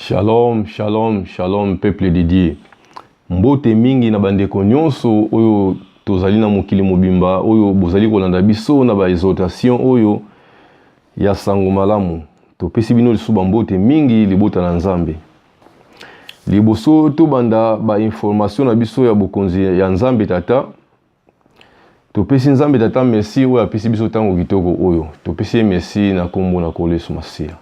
Shalom, shalom, shalom peuple de Dieu. Mbote mingi na bandeko nyonso oyo tozali na mokili mobimba oyo bozali kolanda biso na ba exhortation oyo ya sango malamu. Topesi bino lisusu bambote mingi libota na Nzambe. Liboso tobanda ba information na biso ya bokonzi ya Nzambe Tata, topesi nzambe tata merci oyo apesi biso ntango kitoko oyo topesi ye merci na nkombo na nkolo yesu masiya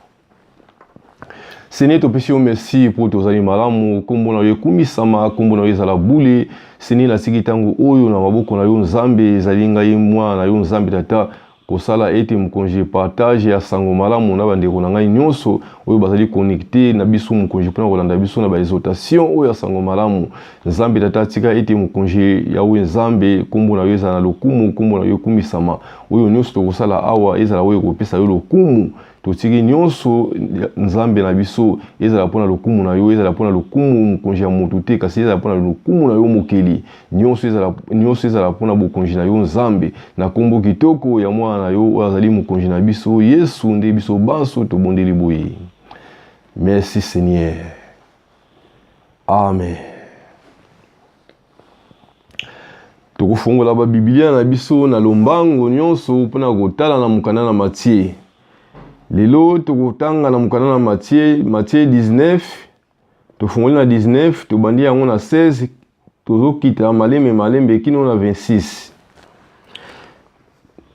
seigneur topesi yo merci mpo tozali malamu nkombo na yo ekumisama nkombo na yo ezala bule seigneur nasiki ntango oyo na maboko na yo nzambe ezali ngai mwana na yo nzambe tata kosala ete mokonzi partage ya sango malamu na bandeko na ngai nyonso oyo bazali connecte na biso mokonzi mpona kolanda biso na baexotation oyo ya sango malamu nzambe tata atika ete mokonzi yawe nzambe nkombo na yo ezala na lokumu nkombo na yo ekumisama oyo nyonso tokosala awa ezala oyo ekopesa yo lokumu totiki nyonso nzambe na biso ezala mpo na lokumu na yo ezala mpo na lokumu mokonzi ya moto te kasi ezala mpo na lokumu na yo mokeli nyonso ezala nyonso ezala mpo na bokonzi na yo nzambe na nkombo kitoko ya mwana na yo oyo azali mokonzi na biso yesu nde biso banso tobondeli boye merci seigneur amen tokofongola babibilia na biso na lombango nyonso mpo na kotala na mokanda na matie lelo tokotanga na mokanda na matie matie 19 tofongoli na 19 tobandi yango na 16 tozokita malembe malembe kino na 26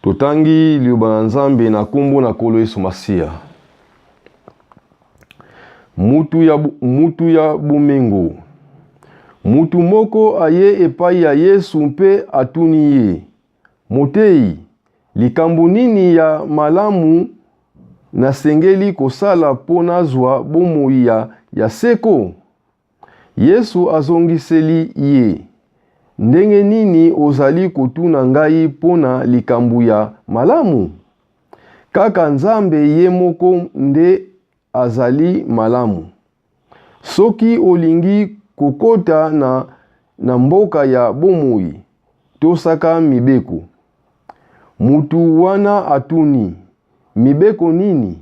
totangi liloba na nzambe na nkombo na nkolo yesu masiya Mutu ya, mutu ya bomengo. Mutu moko aye epai ya Yesu mpe atuni ye, Moteyi, likambo nini ya malamu nasengeli kosala mpo nazwa bomoi ya, ya seko? Yesu azongiseli ye, Ndenge nini ozali kotuna ngai mpo na likambo ya malamu? Kaka Nzambe ye moko nde azali malamu. Soki olingi kokota na, na mboka ya bomoi, tosaka mibeko. Motu wana atuni, Mibeko nini?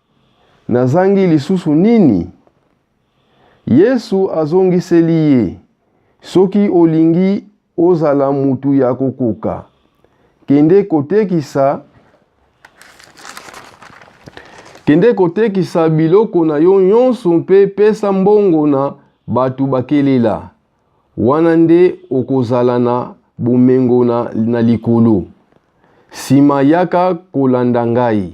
Nazangi lisusu nini? Yesu azongiseli ye, Soki olingi ozala mutu ya kokoka, kende kotekisa kende kotekisa biloko na yo nyonso mpe pesa mbongo na bato bakelela. Wana nde okozala na bomengo na, na likolo. Sima yaka kolanda ngai.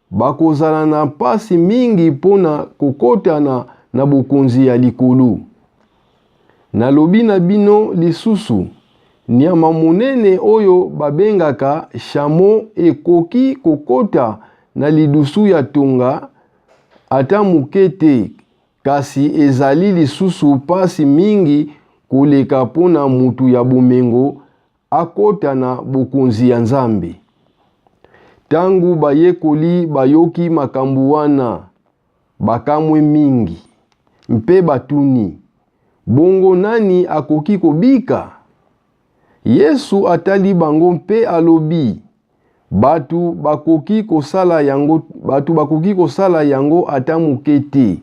Bakozala na mpasi mingi mpo na kokota na, na bokonzi ya likolo. Nalobi na bino lisusu, nyama monene oyo babengaka shamo ekoki kokota na lidusu ya tonga ata moke te, kasi ezali lisusu mpasi mingi koleka mpo na motu ya bomengo akota na Bokonzi ya Nzambe. Ntango bayekoli bayoki makambo wana, bakamwe mingi mpe batuni, Bongo nani akoki kobika? Yesu atali bango mpe alobi, Bato bakoki kosala yango, bato bakoki kosala yango ata moke te,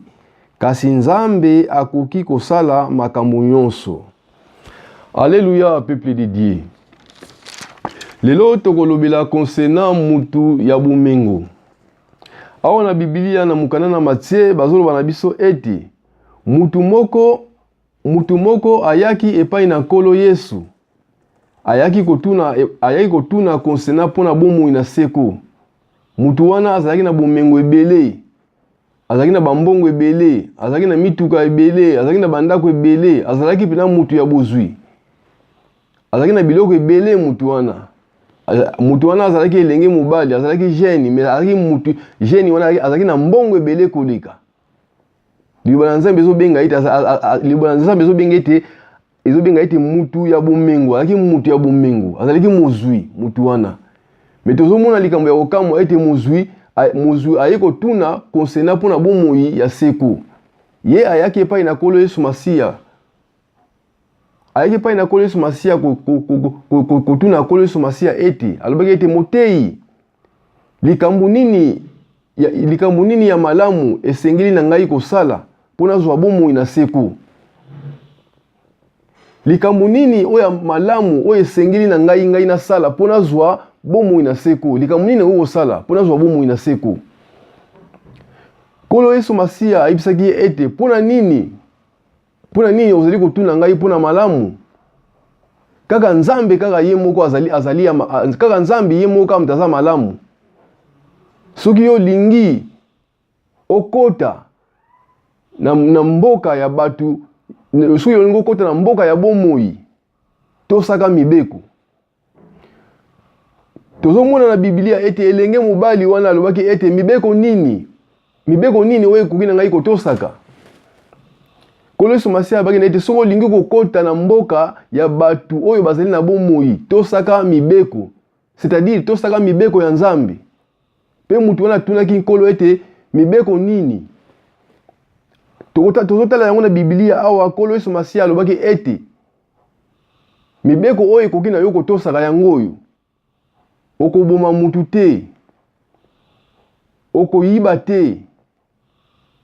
kasi Nzambe akoki kosala makambo nyonso. Aleluya, peuple de Dieu. Lelo tokolobela concernant mutu ya bomengo. Awa na Biblia na mokanda na Matie bazoloba na biso ete mutu moko Moto moko ayaki epai na Nkolo Yesu, ayaki kotuna, e, ayaki kotuna konsena mpo na bomoi na seko. Moto wana azalaki na bomengo ebele, azalaki na bambongo ebele, azalaki na mituka ebele, azalaki na bandako ebele, azalaki mpenza moto ya bozwi, azalaki na biloko ebele. Moto wana moto wana azalaki elenge mobali, azalaki jeune, mais azalaki moto jeune wana azalaki na mbongo ebele koleka. liloba na nzambe ezobenga ete liloba na nzambe ezobenga ete ezobenga ete mutu ya bomengo azalaki mutu ya bomengo azalaki mozwi mutu wana me tozomona likambo ya kokamwa ete mozwi mozwi aye kotuna konsena mpo na bomoi ya seko ye ayaki epai na nkolo yesu masiya ayaki epai na nkolo yesu masiya kotuna nkolo yesu masiya ete alobaki ete moteyi Likambo nini ya, likambo nini ya malamu esengeli na ngai kosala mpo nazwa bomoi na seko? Likambo nini oyo ya malamu oyo esengeli na ngai ngai nasala mpo nazwa bomoi na seko? Likambo nini okoki kosala mpo nazwa bomoi na seko? Nkolo Yesu Masiya ayebisaki ye ete mpo na nini Mpo na nini ozali kotuna ngai mpo na malamu? Kaka Nzambe kaka ye moko azali azali ya kaka Nzambe ye moko kaka aza malamu. Soki yo olingi okota na, na mboka ya bato soki olingi okota na mboka ya bomoi tosaka mibeko tozomona na biblia ete elenge mobali wana alobaki ete mibeko nini mibeko nini oyo ekoki na ngai kotosaka nkolo yesu masiya abaki na ete soki olingi kokota na mboka ya bato oyo bazali na bomoi tosaka mibeko c'est-à-dire tosaka mibeko ya nzambe mpe moto wana atunaki nkolo ete mibeko nini tozotala yango na biblia awa nkolo yesu masiya alobaki ete mibeko oyo ekoki na yo kotosaka yango oyo okoboma mutu te okoyiba te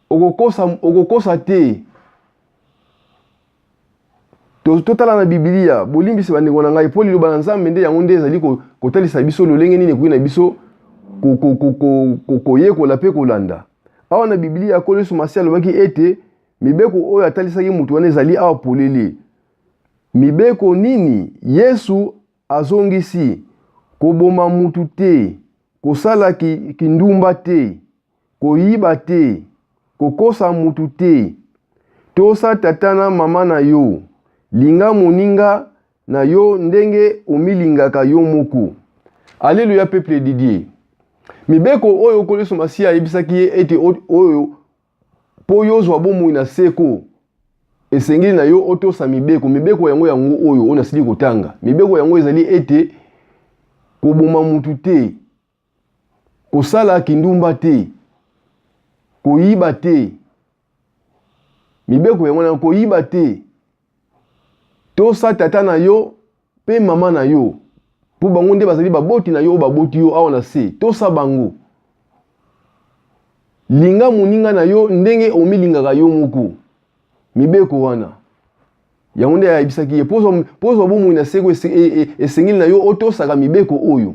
okokosa, okokosa te totala na bibilia bolimbisi bandeko na ngai mpo liloba na nzambe nde yango nde ezali kotalisa biso lolenge nini ekoki na biso koyekola mpe kolanda awa na bibilia kolo yesu masi alobaki ete Mibeko oyo atalisaki moto wana ezali awa polele. Mibeko nini? Yesu azongisi, koboma moto te, kosala kindumba te, koyiba te, kokosa moto te, tosa tata na mama na yo, linga moninga na yo ndenge omilingaka yo moko. Aleluya, peuple Didier. Mibeko oyo Nkolo Yesu Masiya ayebisaki ye ete oyo Mpo yo ozwa bomoi na seko, esengeli na yo otosa mibeko. Mibeko yango yango oyo oyo nasili kotanga. Mibeko yango ezali ete koboma motu te, kosala kindumba te, koyiba te. Mibeko yango na koyiba te. tosa tata na yo mpe mama na yo mpo bango nde bazali baboti na yo oyo baboti yo awa na se tosa bango linga moninga na yo ndenge omilingaka yo moko mibeko wana yango nde ayebisaki ye mpo ozwa bomoi na seko e, e, esengeli na yo otosaka mibeko oyo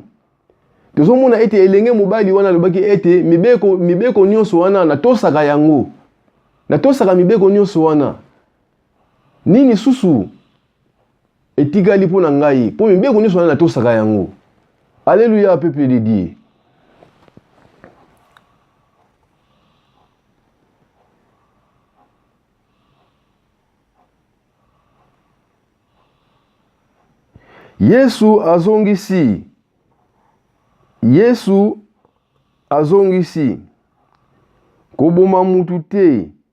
tozomona ete elenge mobali wana alobaki ete mibeko, mibeko nyonso wana natosaka yango natosaka mibeko nyonso wana nini susu etikali mpo na ngai mpo mibeko nyonso wana natosaka yango alleluya peuple de dieu yesu azongisi yesu azongisi koboma mutu te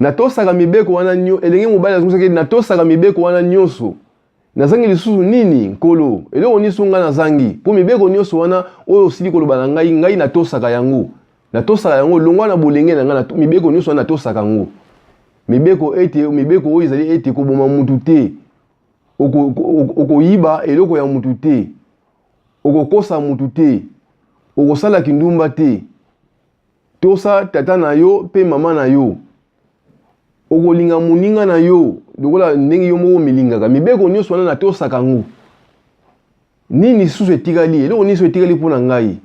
natosaka mibeko wana nyo elenge mobali azongisaki ete natosaka mibeko wana nyonso nazangi lisusu nini nkolo eloko nyonso ngai nazangi mpo mibeko nyonso wana oyo osili koloba na ngai ngai natosaka yango natosaka yango longwa na bolenge na ngai mibeko nyonso wana natosaka yango mibeko ete mibeko oyo ezali ete koboma mutu te okoyiba eloko ya mutu te okokosa mutu te okosala kindumba te tosa tata na yo mpe mama na yo okolinga moninga na yo lokola ndenge yo moko omilingaka mibeko nyonso wana natosaka yango nini lisusu etikali eloko nini so etikali mpo na ngai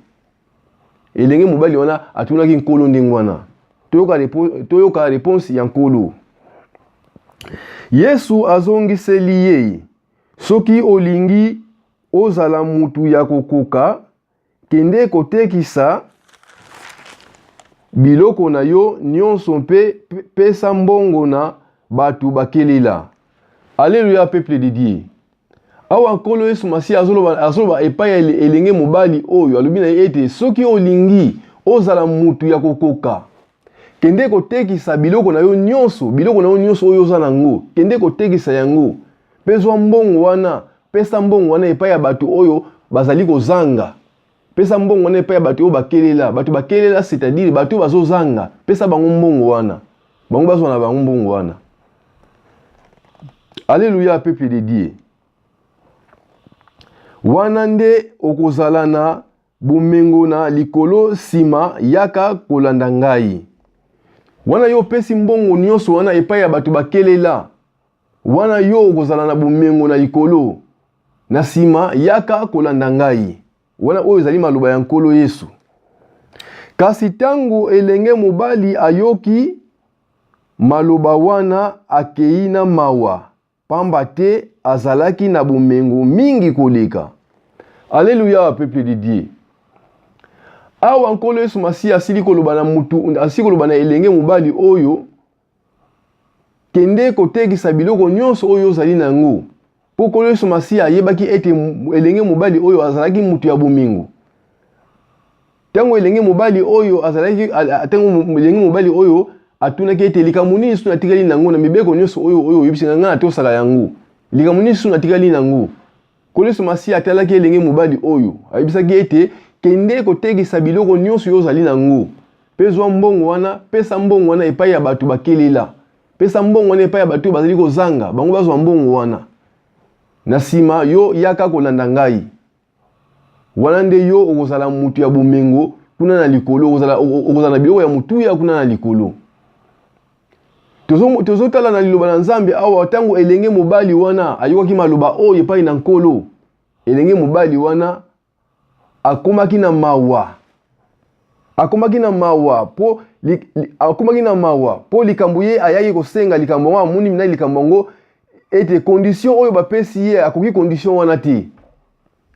elenge mobali wana atunaki nkolo ndenge wana toyoka, repo, toyoka reponse ya nkolo yesu azongiseli ye soki olingi ozala motu ya kokoka Kende kotekisa biloko na yo nyonso mpe pesa mbongo na bato bakelela. Aleluya, peuple de Dieu. Awa Nkolo Yesu Masiya azoloba, azoloba epai ya elenge mobali oyo alobi na ye ete soki olingi ozala mutu ya kokoka, kende kotekisa biloko na yo nyonso biloko na yo nyonso oyo oza na yango kende kotekisa yango mpe zwa mbongo wana pesa mbongo wana epai ya bato oyo bazali kozanga pesa mbongo wana epai ya bato oyo bakelela bato bakelela c'est-à-dire bato oyo bazozanga pesa bango mbongo wana bango bazwa na bango mbongo wana aleluya peuple de dieu wana nde okozala na Bomengo na likolo, nsima yaka kolanda ngai. Wana yo opesi mbongo nyonso wana epai ya bato bakelela, wana yo okozala na bomengo na likolo, na nsima yaka kolanda ngai. Wana oyo ezali maloba ya Nkolo Yesu. Kasi ntango elenge mobali ayoki maloba wana, akei na mawa. Pamba te azalaki na bomengo mingi koleka. Aleluya, peuple de Dieu. Awa Nkolo Yesu Masiya asili koloba na mutu, asili koloba na elenge mobali oyo, kende kotekisa biloko nyonso oyo ozali na yango. Mpo Nkolo Yesu Masiya ayebaki ete elenge mobali oyo azalaki mutu ya bomengo. Tango elenge mobali oyo azalaki tango elenge mobali oyo atunaki ete likambo nini lisusu natikali nango na mibeko nyonso oyo oyo oyebisi na ngai natosaka yango likambo nini lisusu natikali nango nkolo yesu masiya atalaki elenge mobali oyo ayebisaki ete kende kotekisa biloko nyonso oyo ozali nango mpe zwa mbongo wana pesa mbongo wana epai ya bato bakelela pesa mbongo wana epai ya bato oyo bazali kozanga bango bazwa mbongo wana na nsima yo yaka kolanda ngai wana nde yo okozala mutu ya bomengo kuna na likolo okozala, okozala na biloko ya motuya kuna na likolo tozotala na liloba na nzambe awa ntango elenge mobali wana ayokaki maloba oyo epai na nkolo elenge mobali wana akomaki na mawa akomaki na mawa mpo akomaki na mawa mpo likambo ye ayaki kosenga likambo yango amoni na likambo yango ete condition oyo bapesi ye akoki condition wana te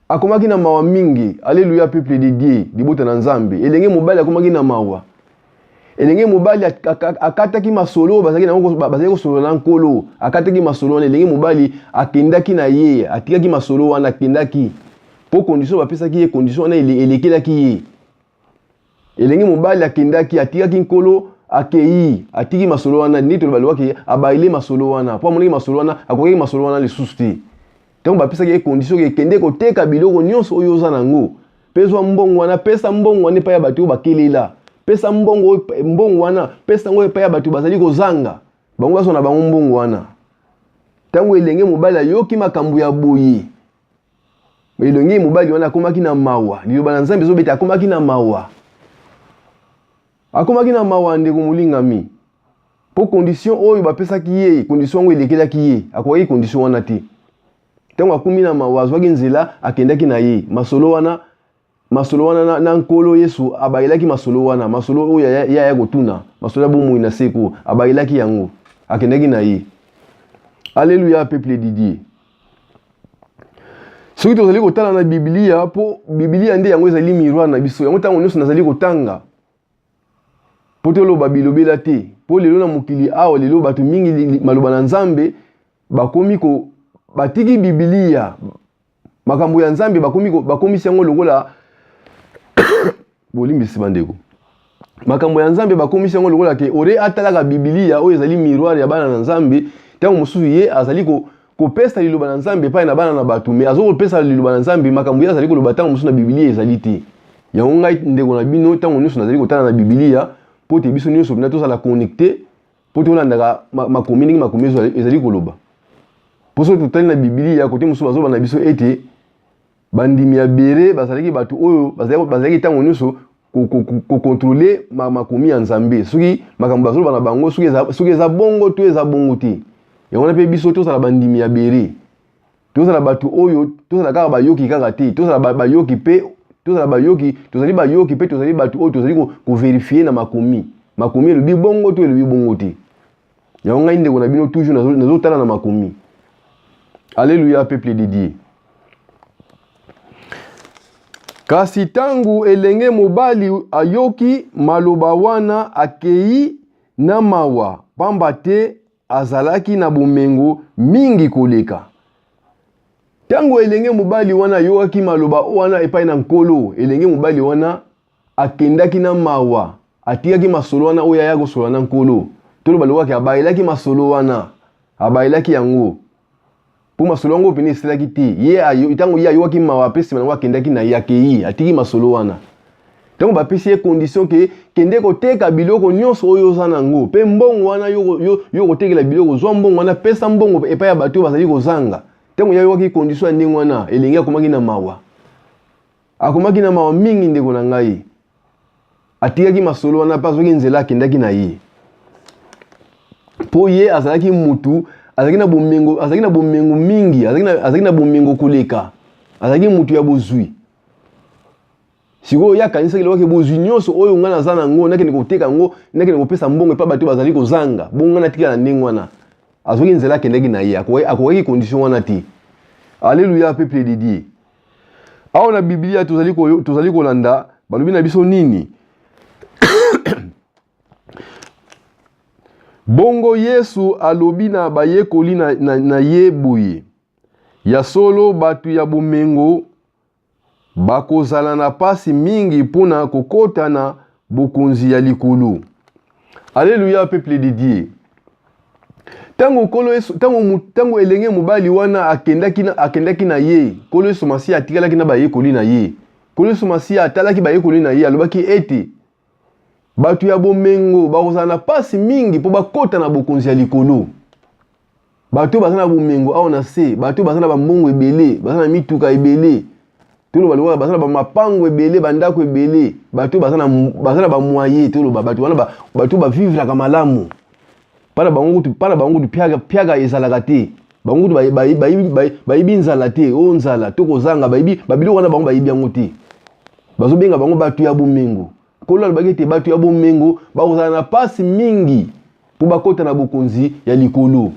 akomaki na mawa mingi aleluya peuple de dieu libota na nzambe elenge mobali akomaki na mawa elenge mobali akataki masolo oyo bazalaki kosolola na nkolo akataki masolo wana elenge mobali akendaki na ye atikaki masolo wana akendaki mpo condition bapesaki ye condition wana elekelaki ye elenge mobali akendaki atikaki nkolo akei atiki masolo wana ndenge toloba lobaki abaile masolo wana mpo amonaki masolo wana akokaki masolo wana lisusu te ntango bapesaki ye condition ekende koteka biloko nyonso oyo oza na yango mpe zwa mbongo wana pesa mbongo wana epai ya bato oyo bakelela pesa mbongo mbongo wana pesa yango epai ya bato bazali kozanga bango bazwa na bango mbongo wana ntango elenge mobali ayoki makambo ya boye elenge mobali wana akomaki na mawa liloba na nzambe ezobeta akomaki na mawa akomaki na mawa ndeko molingami mpo condition oyo bapesaki ye condition yango elekelaki ye akokaki condition wana te ntango akomi na mawa azwaki nzela akendaki na ye masolo wana masolo wana na, na nkolo yesu abakelaki masolo wana masolo oyo ya ya kotuna masolo ya bomoi na seko abakelaki yango akendaki na ye aleluya peuple didier soki tozali kotala na biblia mpo biblia nde yango ezali miroir na biso yango ntango nyonso nazali kotanga mpo toloba bilobela te mpo lelo na mokili awa lelo bato mingi maloba na nzambe bakomi ko batiki bibilia makambo ya nzambe bakomisi yango lokola bolimbisi bandeko makambo ya nzambe bakomisi yango lokola ke ore atalaka bibilia oyo ezali miroir ya bana na nzambe ntango mosusu ye azali ko, kopesa liloba na nzambe epai na bana na bato me azali kopesa liloba na nzambe makambo ye azali koloba ntango mosusu na bibilia ezali te yango ngai ndeko na bino ntango nyonso nazali kotala na bibilia mpo te biso nyonso mpenza tozala connecte mpo tolandaka makomi ndenge makomi ezali koloba mpo soki totali na bibilia kote mosusu bazoba na biso ete bandimi ya bere bazalaki bato oyo bazalaki ntango nyonso kokontrole makomi ya nzambe soki makambo bazoloba na bango soki eza bongo to eza bongo te yango wana mpe biso tozala bandimi ya bere tozala bato oyo tozala kaka bayoki kaka te tozala bayoki mpe tozala bayoki tozali bayoki mpe tozali bato oyo tozali koverifie na makomi makomi elobi bongo to elobi bongo te yango ngai ndeko na bino toujours nazotala na makomi alleluya peuple de dieu kasi ntango elenge mobali ayoki maloba wana akei na mawa mpamba te azalaki na bomengo mingi koleka. Ntango elenge mobali wana ayokaki maloba wana epai na Nkolo, elenge mobali wana akendaki na mawa, atikaki masolo wana oyo aya kosolola na Nkolo. Toloba lokaki abayelaki masolo wana, abayelaki yango. mpo masolo yango mpenza esilaki te ye ntango ye ayokaki mawa mpe nsima yango akendaki na ye akei atiki masolo wana ntango bapesi ye condition ke kende koteka biloko nyonso oyo oza na yango mpe mbongo wana yo okotekela biloko ozwa mbongo wana pesa mbongo epai ya bato oyo bazali kozanga ntango ye ayokaki condition ya ndenge wana elenge akomaki na mawa Akomaki na mawa mingi, ndeko na ngai. Atikaki masolo wana mpe azwaki nzela akendaki na ye, mpo ye azalaki mutu azalaki na bomengo, azalaki na bomengo mingi, azalaki na bomengo koleka, azalaki mutu ya bozwi. sikoyo ye akanisaki eloko ke bozwi nyonso oyo ngai naza na yango nakende koteka yango nakende kopesa mbongo epai bato bazali kozanga bongo ngai natikala na ndenge wana azwaki nzela akendaki na ye akokaki condition wana te aleluya peuple de dieu awa na biblia tozali, ko, tozali kolanda balobi na biso nini bongo yesu alobi na bayekoli na, na, na ye boye ya solo bato ya bomengo bakozala na mpasi mingi mpo na kokota na bokonzi ya likolo aleluya peuple de dieu ntango nkolo yesu ntango elenge mobali wana akendaki na, akendaki na ye nkolo yesu masiya atikalaki na bayekoli na ye nkolo yesu masiya atalaki bayekoli na ye alobaki ete bato ya bomengo bakozala na mpasi mingi mpo bakota na bokonzi ya likolo bato baza na bomengo awa na se bato baza na bambongo ebele baza na mituka ebele toloba lokola baza na bamapango ebele bandako ebele bato baza na bamoye toloba bato wana bato bavivraka malamu mpana bango kutu mpana bango kutu piaka ezalaka te bango kutu bayibi nzala te o oh, nzala to kozanga bayibi babiloko wana bango bayibi yango te bazobenga bango bato ya bomengo Nkolo alobaki ete bato ya bomengo bakozala na mpasi mingi mpo bakota na bokonzi ya likolo.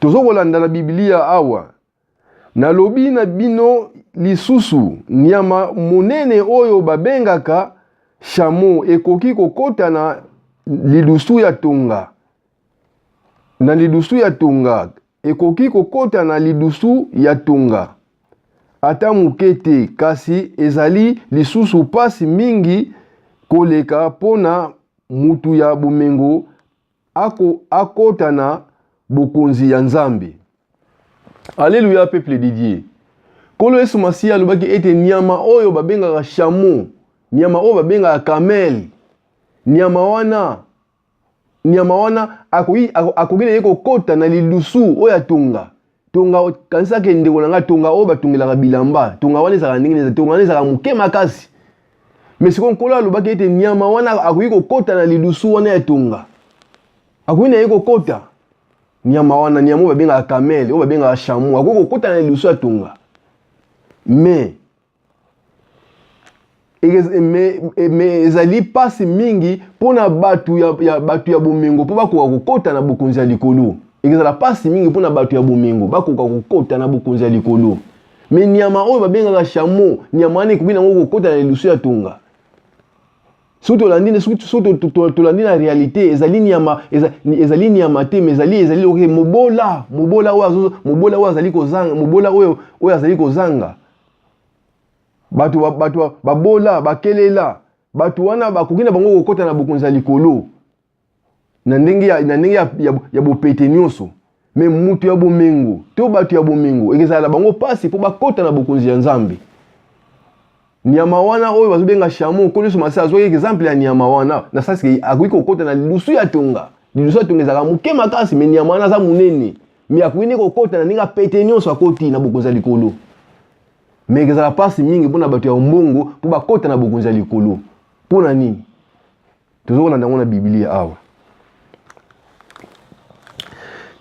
Tozo kolanda na Biblia awa. Nalobi na bino lisusu, nyama monene oyo babengaka shamo ekoki kokota na lidusu ya tonga na lidusu ya tonga Ekoki kokota na lidusu ya tonga? Ata moke te, kasi ezali lisusu mpasi mingi koleka mpo na moto ya bomengo ako, akota na bokonzi ya Nzambe. Aleluya, peuple de Dieu. Nkolo Yesu Masiya alobaki ete nyama oyo babengaka shamo, nyama oyo babengaka kamele, nyama wana nyama wana akoki akoki na ye kokota na lidusu oyo atonga tonga kanisaka ndeko na ngai tonga oyo batongelaka bilamba tonga wana ezalaka ndenge nini tonga wana ezalaka moke makasi me sikoyo nkolo alobaki ete nyama wana akoki kokota na lidusu wana ya tonga akoki na ye kokota nyama wana nyama oyo babengaka kamele oyo babengaka chameau akoki kokota na lidusu ya tonga me me ezali mpasi mingi mpo na bato ya, ya, bato ya bomengo mpo bakoka kokota na bokonzi ya likolo ekozala mpasi mingi mpo na bato ya bomengo bakoka kokota na bokonzi ya likolo me nyama oyo babengaka shamo nyama wana ekoki nango kokota na lidusu ya tonga soki tolandi soki tolandi na réalité ezali nyama ezali nyama te mais ezali ezali oke mobola mobola oyo mobola oyo azali kozanga mobola oyo oyo azali kozanga bato bato babola bakelela bato wana bakoki na bango kokota na bokonzi ya likolo na ndenge ya, na ndenge ya, ya, ya bopete nyonso me moto ya bomengo to bato ya bomengo ekezala na bango mpasi mpo bakota na bokonzi ya nzambe nyama wana oyo bazobenga shamo nkolo yesu masiya azwaki exemple ya nyama wana na sasike akoki kokota na lilusu ya tonga lilusu ya tonga ezalaka moke makasi me nyama wana aza monene me akoki nde kokota na ndenge apete nyonso akoti na bokonzi ya likolo me ekozala mpasi mingi mpo na bato ya ombongo mpo bakota na bokonzi ya likolo mpo na nini tozokolanda yango na biblia awa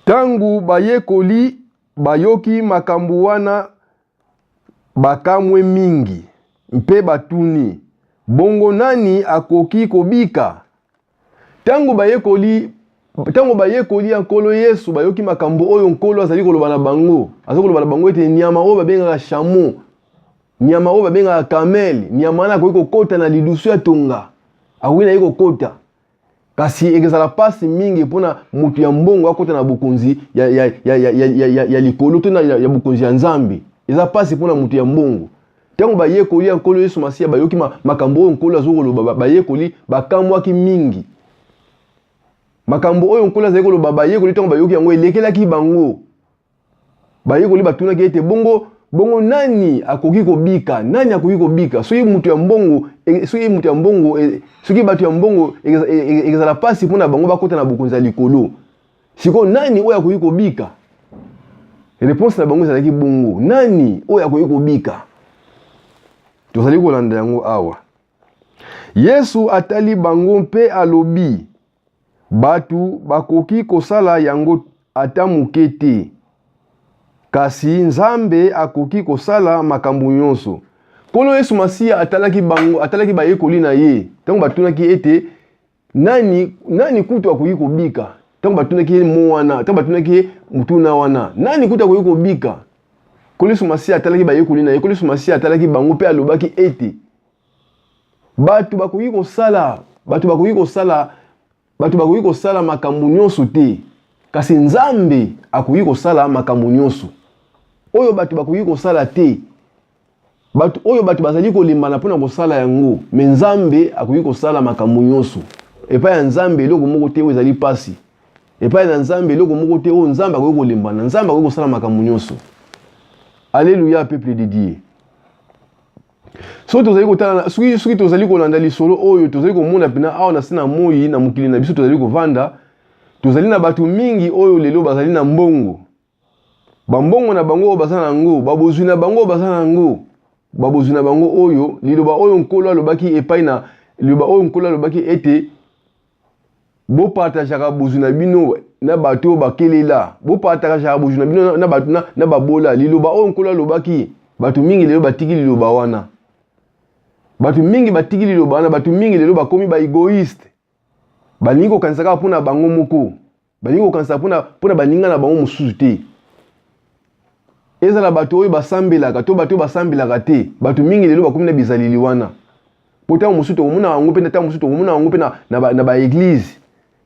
ntango bayekoli bayoki makambo wana bakamwe mingi mpe batuni bongo nani akoki kobika Ntango bayekoli ntango bayekoli ya nkolo yesu bayoki makambo oyo nkolo azali koloba na bango azali koloba na bango ete nyama oyo babengaka shamo nyama oyo babengaka kamele nyama wana akoki kokota na lidusu ya tonga akoki na ye kokota kasi ekozala mpasi mingi mpo na moto ya mbongo akota na bokonzi ya, ya, ya, ya, ya, ya, ya likolo to na ya, ya bokonzi ya nzambe eza mpasi mpo na moto ya mbongo Ntango bayekoli ya Nkolo Yesu Masiya bayoki ma, makambo oyo Nkolo azali koloba, bayekoli bakamwaki mingi. Makambo oyo Nkolo azali koloba, bayekoli ntango bayoki yango elekelaki bango. Bayekoli batunaki ete bongo bongo nani akoki kobika? Nani akoki kobika? Soki moto ya mbongo, e, soki moto ya mbongo, e, soki bato ya mbongo ekozala mpasi mpo na bango bakota na bokonzi ya likolo. sikoyo nani oyo akoki kobika reponse na bango ezalaki bongo nani oyo akoki kobika tozali kolanda yango awa yesu atali bango mpe alobi bato bakoki kosala yango ata moke te kasi nzambe akoki kosala makambo nyonso nkolo yesu masiya atalaki bango atalaki bayekoli na ye ntango batunaki ete nani, nani kutu akoki kobika ntango batunaki ye mo wana ntango batunaki ye motuna wana nani kutu akoki kobika koliso masiya atalaki bayekoli na ye koliso masiya atalaki bango mpe alobaki ete bato bakoki kosala bato bakoki kosala bato bakoki kosala makambo nyonso te kasi nzambe akoki kosala makambo nyonso oyo bato bakoki kosala te bato oyo bato bazali kolembana mpo na kosala yango me nzambe akoki kosala makambo nyonso epai ya nzambe eloko moko te oyo ezali mpasi epai na nzambe eloko moko te oyo nzambe akoki kolembana nzambe akoki kosala makambo nyonso aleluya peuple de dieu soki tozali kotala soki soki tozali kolanda lisolo oyo tozali komona mpena awa na se na moi na mokili na biso tozali kovanda tozali na bato mingi oyo lelo bazali na mbongo bambongo na bango oyo baza na yango babozwi na bango oyo baza na yango babozwi na bango oyo liloba oyo nkolo alobaki epai na liloba oyo nkolo alobaki ete bopartajaka bozwi na bino na bato oyo bakelela bopartajaka bozwi na bino na bato na babola liloba oyo nkolo alobaki bato mingi lelo batiki liloba wana bato mingi batiki liloba wana bato mingi lelo bakomi baegoiste balingi kokanisa kaka mpo na bango moko balingi kokanisa mpo na baninga na bango mosusu te ezala bato oyo basambelaka to bato oyo basambelaka te bato mingi lelo bakomi na bizaleli wana mpo ntango mosusu tokomona yango mpe ntango mosusu tokomona yango mpe na baeglize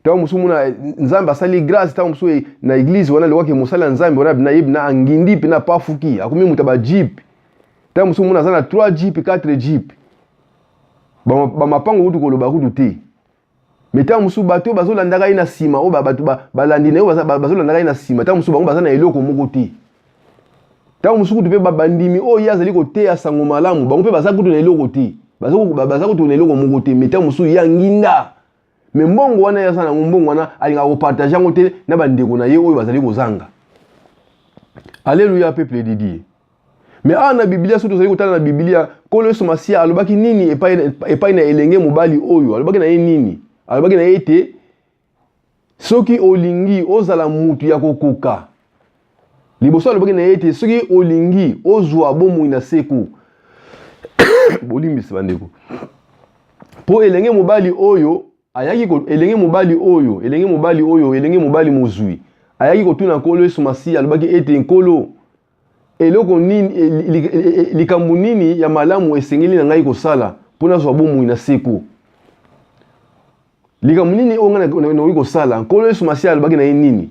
ntango mosusu mona eh, nzambe asali grâce ntango mosusu eh, na eglize wana alobaki mosali ya nzambe wana nayebi na angindi mpe na pafuki akomi moto ya bajipe ntango mosusu mona aza na 3 jipe 4 jipe bamapango kutu koloba kutu te me ntango mosusu bato oyo bazolandaka ye na nsima oyo bato balandi na ye bazolandaka ye na nsima ntango mosusu bango baza na eloko moko te ntango mosusu kutu mpe bandimi oyo ye azali koteya sango malamu bango mpe baza kutu na eloko te baza kutu na eloko moko te me ntango mosusu ye anginda me mbongo wana ye aza nango mbongo wana alingaka kopartage yango te na bandeko na ye oyo bazali kozanga aleluya peuple didie me awa na biblia soki tozali kotala na biblia nkolo yesu masiya alobaki nini epai, epai na elenge mobali oyo alobaki na ye nini alobaki na ye ete soki olingi ozala mutu ya kokoka liboso alobaki na ye ete soki olingi ozwa bomoi na seko bolimbisi bandeko mpo elenge mobali oyo ayaki ko, elenge mobali oyo elenge mobali oyo elenge mobali mozwi ayaki kotuna nkolo yesu masiya alobaki ete nkolo Eloko nini, e, e, e, likambo nini ya malamu esengeli na ngai kosala mpo nazwa bomoi na seko? Likambo nini oyo ngai nakoki kosala? Nkolo Yesu Masiya alobaki na ye nini?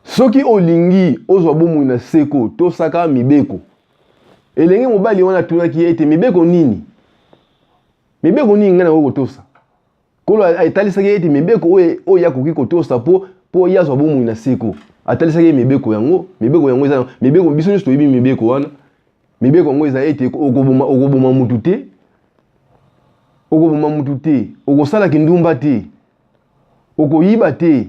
Soki olingi ozwa bomoi na seko, tosaka mibeko. Elenge mobali wana atunaki ye ete mibeko nini? Mibeko nini ngai nakoki kotosa? nkolo etalisaki ye ete mibeko oyo oyo ye akoki kotosa mpo mpo ye azwa bomoi na seko atalisaki ye mibeko yango mibeko yango eza mibeko biso nyonso toyebi mibeko wana mibeko yango eza ete okoboma okoboma motu te okoboma motu te okosala kindumba te okoyiba te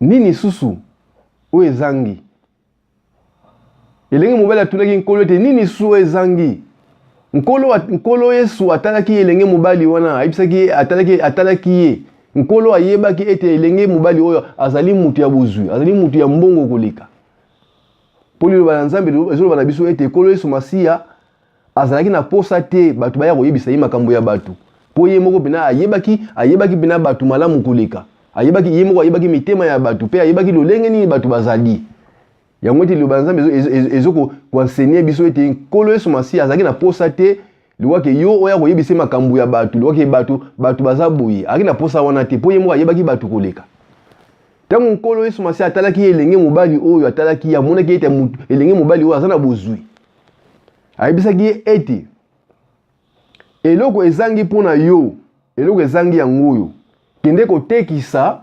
Nini lisusu oyo ezangi? Elenge mobali atunaki nkolo ete nini lisusu oyo ezangi? Nkolo, nkolo Yesu atalaki elenge mobali wana, ayebisaki ye, atalaki, atalaki ye. Nkolo ayebaki ete elenge mobali oyo azali moto ya bozwi, azali moto ya mbongo koleka. Mpo liloba na Nzambe ezoloba na biso ete Nkolo Yesu Masiya azalaki na posa te bato baya koyebisa ye makambo ya bato mpo ye moko mpena ayebaki ayebaki mpena bato malamu koleka ayebaki ye moko ayebaki mitema ya bato mpe ayebaki lolenge nini bato bazali yango ete liloba ya nzambe ezokoensenye biso ete nkolo yesu masiya azalaki na posa te liwake yo oya koyebisa makambo ya bato liwake bato bato baza boye ayaki na posa wana te mpo ye moko ayebaki bato koleka ntango nkolo yesu masiya atalaki ye elenge mobali oyo atalaki ye amonaki ete elenge mobali oyo aza na bozwi ayebisaki ye ete eloko ezangi mpo na yo eloko ezangi yango oyo kende kotekisa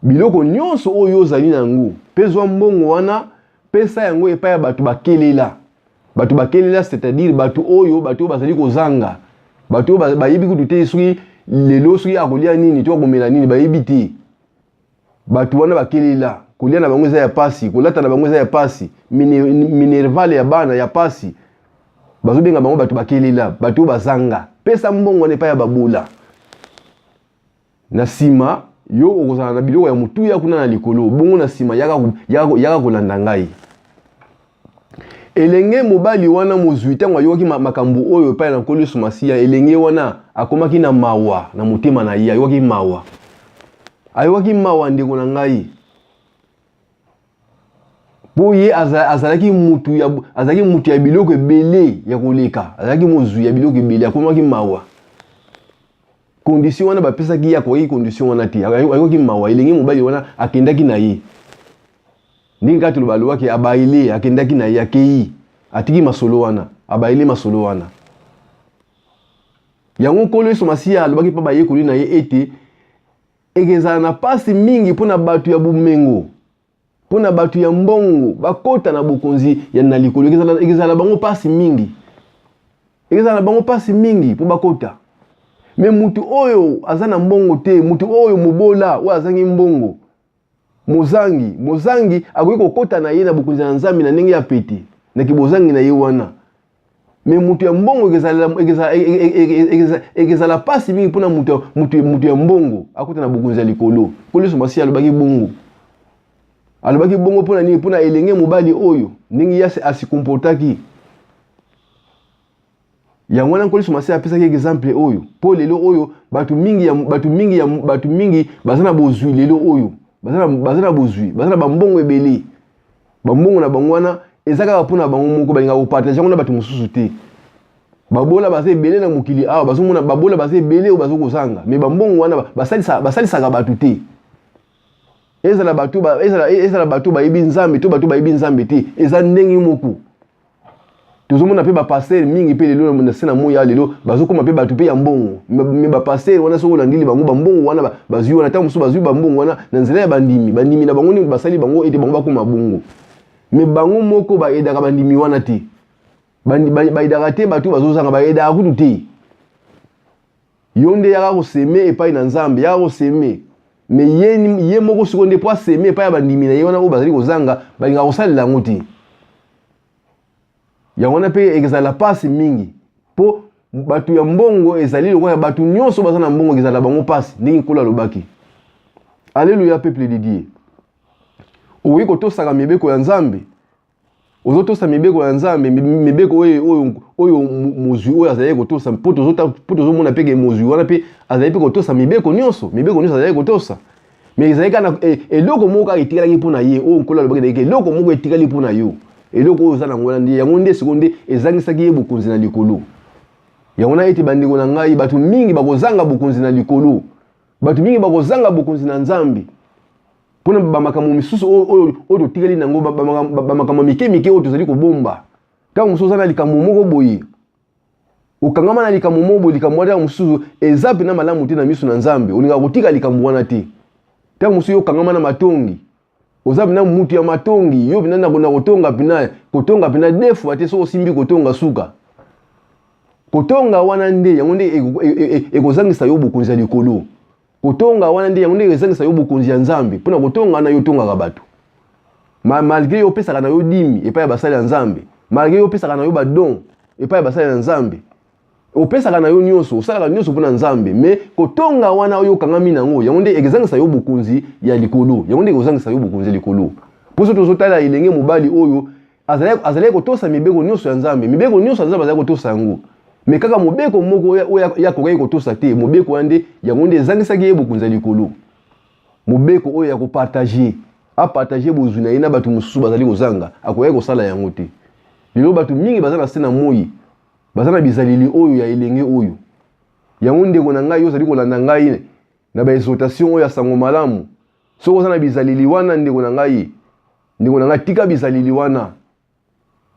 biloko nyonso oyo ozali na yango mpe zwa mbongo wana pesa yango epai ya bato bakelela bato bakelela c'est-à-dire bato oyo bato oyo bazali kozanga bato oyo bayebi kutu te soki lelo soki akolia nini to akomela nini bayebi te bato wana bakelela kolia na bango eza ya pasi kolata na bango eza ya pasi minervale ya bana ya pasi bazobenga bango bato bakelela bato oyo bazanga pesa mbongo wana epai ya babola na nsima yo okozala na biloko ya motuya kuna na likolo bongo na nsima yaka kolanda ngai elenge mobali wana mozwi ntango ayokaki makambo oyo epai na nkolo yesu masiya elenge wana akomaki na mawa na motema na ye ayokaki mawa ayokaki mawa ndeko na ngai mpo ye azalaki mutu ya, azalaki mutu ya biloko ebele ya koleka azalaki mozwi ya biloko ebele akomaki mawa kondisio wana bapesaki ye akoki kondisio wana te ayokaki mawa elenge mobali wana akendaki na ye ndenge kaka toloba alobaki abaile akendaki na ye akei atiki masolo wana abaile masolo wana yango nkolo yesu masiya alobaki mpa bayekoli na ye ete ekezala na mpasi mingi mpo na bato ya bomengo mpo na bato ya mbongo bakota na bokonzi ya na likolo ekezala bango mpasi mingi ekezala na bango mpasi mingi mpo bakota me moto oyo aza na mbongo te moto oyo mobola oyo azangi mbongo mozangi mozangi akoki kokota na ye na bokonzi na nzambe na ndenge ya pete na kibozangi na ye wana me moto ya mbongo ekezala mpasi mingi mpona moto ya mbongo akota na bokonzi ya likolo koliso masi alobaki bongo alobaki bongo mpona nini mpona elenge mobali oyo ndenge yasi asikomportaki yango wana nkolo yesu masiya apesaki exemple oyo mpo lelo oyo bato mingi ya bato mingi ya bato mingi baza na bozwi lelo oyo baza na bozwi baza na bambongo ebele bambongo na bango wana eza kaka mpo na bango moko balinga kopartage yango na bato mosusu te babola baza ebele na mokili awa bazomona babola baza ebele oyo bazokozanga me bambongo wana basalisaka bato te ezala bato bayebi nzambe to bato bayebi nzambe te eza ndenge moko tozomona mpe bapastere mingi mpe lelo na se na moi ya lelo bazokoma mpe bato mpe ya mbongo me bapastere wana soki olandili bango bambongo wana bazwi wana ntango mosusu bazwi bambongo wana na nzela ya bandimi bandimi na bango ndenge basali bango ete bango bakoma bongo me bango moko baedaka bandimi wana te baedaka te bato bazozanga baedaka kutu te yo nde yaka koseme epai na nzambe yaka koseme me ye, ye moko siko nde mpo aseme epai ya bandimi na ye wana oyo bazali kozanga balingaka kosalela yango te yango wana mpe ekezala mpasi mingi mpo bato ya mbongo ezali lokola bato nyonso baza na mbongo ekezala bango mpasi ndenge nkolo alobaki aleluya peuple de dieu okoki kotosaka mibeko ya nzambe ozotosa mibeko ya nzambe mibeko oyo oyo mozwi oyo azalaki kotosa mpo tozomona mpe ke mozwi wana mpe azali mpe kotosa mibeko nyonso mibeko nyonso azalaki kotosa me ezali kaka e, eloko moko kaka etikalaki mpo na ye oyo nkolo alobaki naye eloko moko etikali mpo na yo eloko oyo oza nango wana nde yango nde sikoyo nde ezangisaki ye bokonzi na likolo yango na ete bandeko na ngai bato mingi bakozanga bokonzi na likolo bato mingi bakozanga bokonzi na nzambe mpo na bamakambo misusu oyo totikali na yango bamakambo mike mike oyo tozali kobomba ntango mosusu oza na likambo moko boye okangama na likambo moko boye likambo wana ntango mosusu eza mpenza malamu te na miso na nzambe olingaka kotika likambo wana te ntango mosusu yo okangama na matongi oza mpena mutu ya matongi yo mpena nakona kotonga mpena kotonga mpena defua te soki osimbi kotonga suka kotonga wana nde yango nde e, e, e, ekozangisa yo bokonzi ya likolo kotonga wana nde yango nde ezangisa yo bokonzi ya nzambe mpo na kotonga wana yo otongaka bato ma malgre yo opesaka na yo dimi epai ya basali ya nzambe malgre yo opesaka na yo badon epai ya basali ya nzambe opesaka na yo nyonso osalaka nyonso mpo na nzambe me kotonga wana oyo okangami na yango yango nde ekozangisa yo bokonzi ya likolo yango nde ekozangisa yo bokonzi ya likolo mpo so tozotala elenge mobali oyo azalaki azalaki kotosa mibeko nyonso ya nzambe mibeko nyonso ya nzambe azalaki kotosa yango me kaka mobeko moko oyo ye akokaki kotosa te mobeko wana nde yango nde ezangisaki ye bokonzi ya likolo mobeko oyo ya kopartage apartage bozwi na ye na bato mosusu bazali kozanga akokaki kosala yango te lelo bato mingi baza na se na moi baza na bizaleli oyo ya elenge oyo yango ndeko na ngai yo ozali kolanda ngai na baexotation oyo ya sango malamu soki oza na bizaleli wana ndeko na ngai ndeko na ngai tika bizaleli wana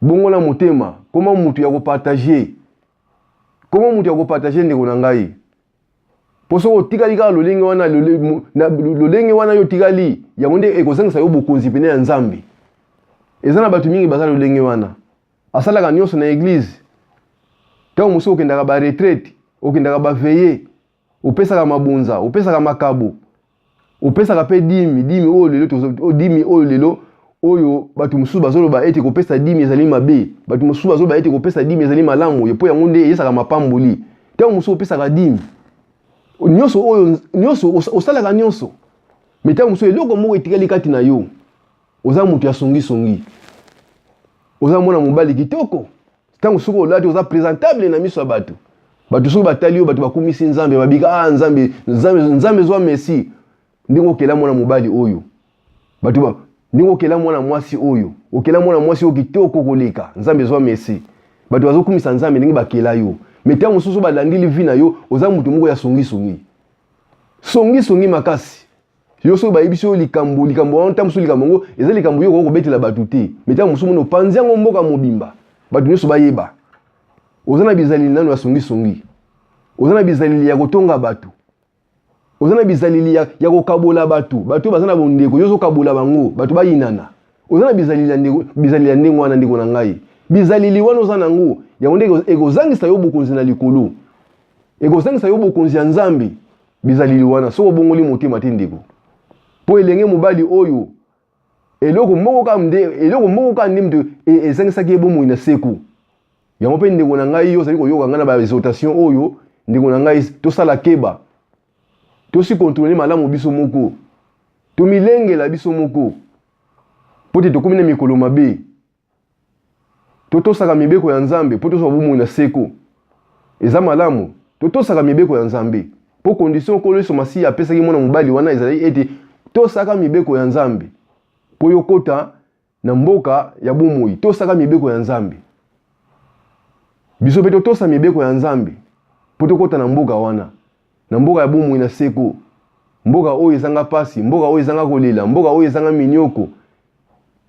bongola motema koma motu ya kopartage koma motu ya kopartage ndeko na ngai mpo soki otikali kaka lolenge wana lolenge wana yo otikali yango nde ekozangisa yo bokonzi pene ya nzambe eza na bato mingi baza lolenge wana asalaka nyonso na eglize ntango mosusu okendaka baretraite okendaka baveye opesaka mabonza opesaka makabo opesaka mpe dimi dimi oyo lelo oh, dimi oyo lelo oyo bato mosusu bazoloba ete kopesa dimi ezali mabe bato mosusu bazoloba ete kopesa dimi ezali malamu mpo yango nde eyesaka mapamboli ntango mosusu opesaka dimi nyonso oyo nyonso osalaka nyonso me ntango mosusu eloko moko etikali kati na yo oza moto ya songisongi oza mwana mobali kitoko ntango soki olati oza presentable na miso ya bato bato soki batali yo bato bakumisi nzambe babika ah nzambe nzambe nzambe zwa messi ndenge okela mwana mobali oyo bato ba ndenge okela mwana mwasi oyo okela mwana mwasi oyo kitoko koleka nzambe zwa messi bato bazokumisa nzambe ndenge bakela yo me ntango mosusu balandili vi na yo oza moto moko ya songisongi songisongi makasi yo soki bayebisi yo likambo likambo wana ntango mosusu likambo yango eza likambo yo okoki kobetela bato te me ntango mosusu mona opanzi yango mboka mobimba bato nyonso bayeba oza na bizaleli nano ya songisongi oza na bizaleli ya kotonga bato oza na bizaleli ya, ya kokabola bato bato oyo baza na bondeko yo ozokabola bango bato bayinana oza na bizaleli ya ndenge wana ndeko na ngai bizaleli wana oza na yango yango nde ekozangisa yo bokonzi na likolo ekozangisa yo bokonzi ya nzambe bizaleli wana soki obongoli motema te ndeko mpo elenge mobali oyo eloko moko kaka nde eloko moko kaka nde moto e, ezangisaki ye bomoi na seko yango mpe ndeko na ngai yo ozali koyoka ngai na baexhortation oyo ndeko na ngai tosala keba tosi kontrole malamu biso moko tomilengela biso moko mpo te tokomi na mikolo mabe totosaka mibeko ya nzambe mpo tozwa bomoi na seko eza malamu totosaka mibeko ya nzambe mpo kondisio nkolo yesu masiya apesaki mwana mobali wana ezalaki ete tosaka mibeko ya nzambe mpo yokota na mboka ya bomoi tosaka mibeko ya nzambe biso mpe totosa mibeko ya nzambe mpo tokota na mboka wana na mboka ya bomoi na seko, mboka oyo ezanga pasi, mboka oyo ezanga kolela, mboka oyo ezanga minyoko.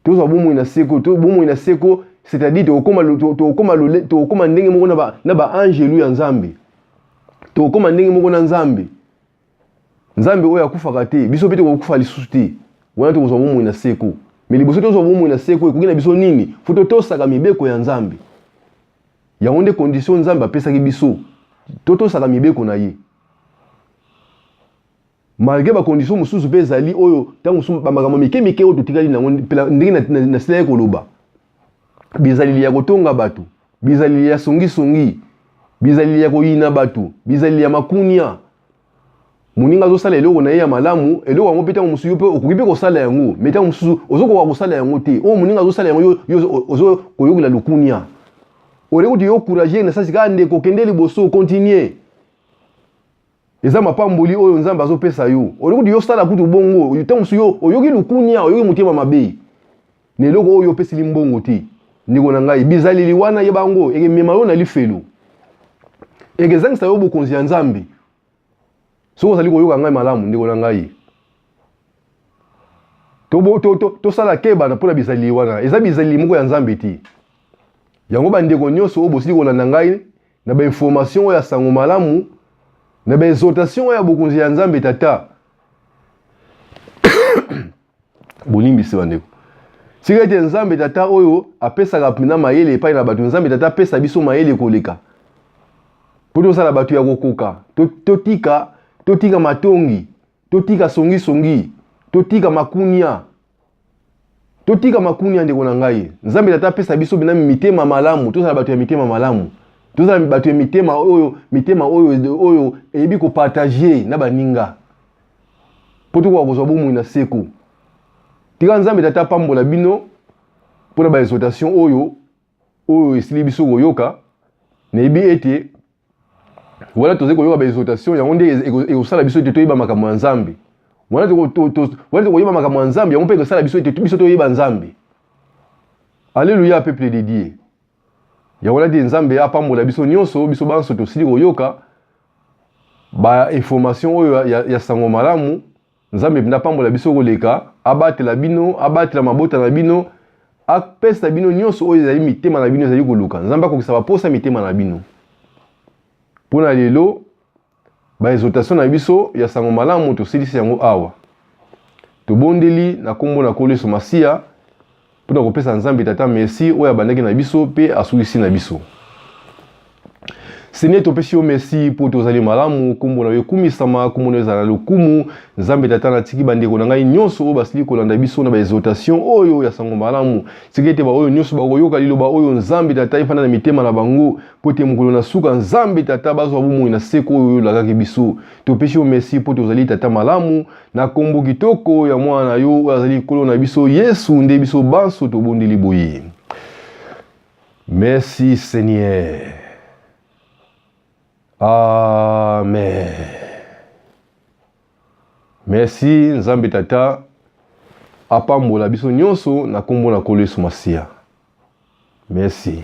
Tozwa bomoi na seko, to bomoi na seko, c'est-à-dire tokokoma tokokoma tokokoma ndenge moko na ba na ba angelu ya Nzambe. Tokokoma ndenge moko na Nzambe. Nzambe oyo akufaka te, biso mpe tokokufa lisusu te. Wana tokozwa bomoi na seko. Mais liboso tozwa bomoi na seko ekoki na biso nini? Faut totosaka mibeko ya Nzambe. yango nde condition nzambe apesaki biso totosaka mibeko na ye malgré bakondition mosusu mpe ezali oyo ntango mosusu bamakambo mike mike oyo totikali nango ndenge nasilaki koloba bizaleli ya kotonga bato bizaleli ya songisongi bizaleli ya koyina bato bizaleli ya makunia moninga azosala eloko na ye ya malamu eloko yango mpe ntango mosusu yo mpe okoki mpe kosala yango me ntango mosusu ozokoka kosala yango te oyo moninga azosala yango yo ozo koyokela lokunia oye kutu yo courage na sasi kaka ndeko kende liboso continue eza mapamboli oyo nzambe azopesa yo oye kutu yo sala kutu bongo ntango mosusu yo oyoki lokunia oyoki motema mabe na eloko oyo opesili mbongo te ndeko na ngai bizaleli wana yeba yango ekemema yo na lifelo ekezangisa yo bokonzi ya nzambe soki ozali koyoka ngai malamu ndeko na ngai tosala to, to, to keba mpo na bizaleli wana eza bizaleli moko ya nzambe te yango bandeko nyonso oyo bosili kolanda ngai na bainformation oyo ya sango malamu na baexhortation oyo ya bokonzi ya nzambe tata bolimbisi bandeko tika ete nzambe tata oyo apesaka mpena mayele epai na bato nzambe tata apesa biso mayele koleka mpo tozala bato ya kokoka totika totika matongi totika songisongi totika makunia totika makunia ndeko na ngai nzambe tata apesa biso mpena mitema malamu tozala bato ya mitema malamu tozala bato ya mitema oyo mitema oyo oyo eyebi kopartage na baninga mpo tokoka kozwa bomoi na seko tika nzambe tata apambola bino mpo na baexhortation oyo oyo esili biso koyoka nayebi ete wana tozali koyoka baexhortation yango nde ekosala biso ete toyeba makambo ya nzambe wana tokoyeba makambo ya nzambe yango mpe ekosala biso ete biso toyeba nzambe alleluya peuple de dieu yango lati nzambe apambola biso nyonso biso banso tosili koyoka bainformation oyo ya, ya, ya sango malamu nzambe mpenza apambola biso koleka abatela bino abatela mabota na bino apesa bino nyonso oyo ezali mitema na bino ezali koluka nzambe akokisa baposa mitema na bino mpo na lelo Ba exhortation na biso ya sango malamu tosilisi yango awa. Tobondeli na kombo na Nkolo Yesu Masiya mpo na kopesa Nzambe Tata merci oyo abandaki na biso mpe asulisi na biso. Seigneur, topesi yo merci mpo tozali malamu, kombo na yo ekumisama, kombo na yo ezala na lokumu. Nzambe Tata, natiki bandeko na ngai nyonso oyo basili kolanda biso na baexhortation oyo ya sango malamu. Tika ete baoyo nyonso bakoyoka liloba oyo Nzambe Tata efanda na mitema na bango mpo ete mokolo na suka nzambe tata bazwa bomoi na seko oyo olakaki biso topesi yo merci mpo tozali tata malamu na nkombo kitoko ya mwana na yo oyo azali nkolo na biso yesu nde biso banso tobondeli boye merci seigneur amen merci nzambe tata apambola biso nyonso na nkombo na nkolo yesu masiya Merci.